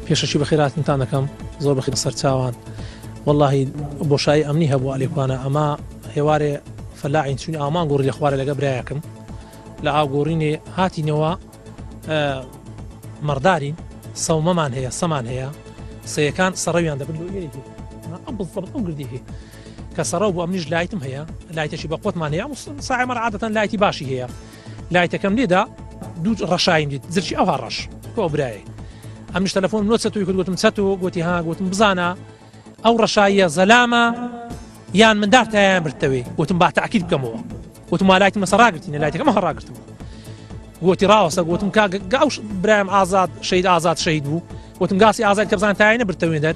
پێشەکی بەخێر هاتنتان دەکەم زۆر بەخێر سەر چاوان واللهی بۆشایی ئەمنی هەبوو ئەلێکوانە ئەمە هێوارێ فەلاعین چون ئامان گۆڕی لە خوارە لەگە برایەکەم لە ئاگۆڕینێ هاتینەوە مەڕدارین سەومەمان هەیە سەمان هەیە سەیەکان سەڕەویان دەبن ئەم گردی هەیە کە سەڕەو بۆ ئەمنیش لایتم هەیە لایتەشی بە قوتمان هەیە ساعمەر عادەتەن لایتی باشی هەیە لایتەکەم لێدا دوو ڕەشایم دیت زرچی ئەوها ڕەش کۆ برایە ئەمیش تەلەفۆن نۆ چەتوی کرد گوتم چەت و گوتی ها گوتم بزانە ئەو ڕەشاییە زەلامە یان مندار تایان برتەوەی وتم با تاکیل بکەمەوە وتم لایتی مەسە ڕاگرتینە لایتەکەم هەڕاگرتم گوتی ڕاوەسە گوتم کاگەش برایم ئازاد شەید ئازاد شەید بوو وتم گاسی ئازاد کەزان تاینە برتەوێ دەر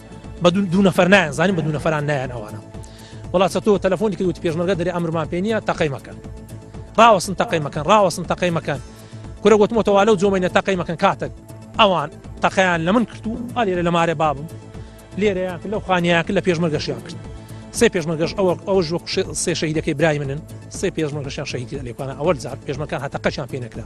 بە دوو نەفەر نایان زانین بە دوو نەفران نایەن ئەوانە وڵا چەتۆ تەلفۆنی کە وت پێشمەرگە دەری ئەمرمان پێ نیە تەقی مەکەن ڕاوەسن تەقی مەکەن ڕاوەسن تەقی مەکەن کورە وتمەوە لەو جۆمەینە تەقی مەکەن کاتێک ئەوان تەقیان لە من کرد و ئالێرە لە مارێ بابم لێرەیان کرد لەو خانیان کرد لە پێشمەرگەشیان کرد سێ پێشمەگەش ئەوە ئەوە ژۆ سێ شەهیدەکەی برای منن سێ پێشمەگەشیان شەهیدی لەلێکانە ئەوە زار پێشمەکان هەتەقەشیان پێ نەکرا